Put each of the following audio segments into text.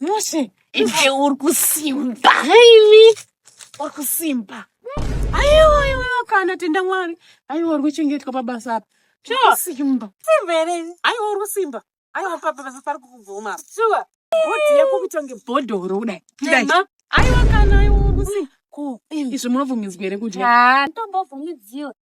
Mose, iwe uri kusimba. Haimi. Uri kusimba. Aiwa, aiwa, kana tenda Mwari. Aiwa uri kuchengetwa pabasa apa. Sure. Simba. Simba ere. Aiwa uri kusimba. Aiwa papa basa pari kukubvuma. Sure. Bhodhi yako kutonge bhodhoro kudai. Tema. Aiwa kana aiwa uri kusimba. Ko, izvi munobvumidzwa ere kudya? Ah, ndombobvumidziwa.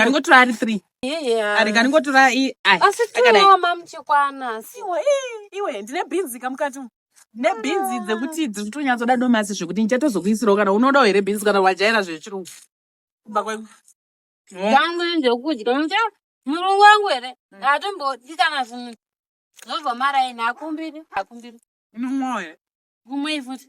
aringotora ari three aringotora iwe ndine bhinzi kamukati nebhinzi dzekuti dziri kutonyatsoda domasi zvekuti ndichatozokuisirawo kana unodawo here bhinzi kana wajaira zvechirungu kumba kwengu yangu ndokudya mucha murungu wangu here hatombodi kana zvimwe zvobva maraini hakumbiri hakumbiri unomwawo here kumwei futi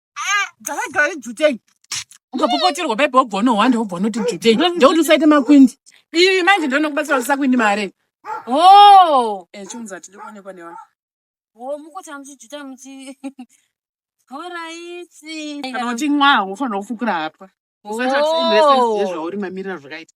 dzakagara idzutei ukapopoterwa baibo wobva unohwanda wobva unoti dzutei ndekuti usaite makwindi ii manje ndonokubatsira kuti sakwindi mare o oh! eh, chiunza tidi kuonekwa nevanhu oh, mukutanga muchijuta muchi horaiti kana kuti nwa wofanira kufukura hapwa usatizvauri oh! mamirira zvakaita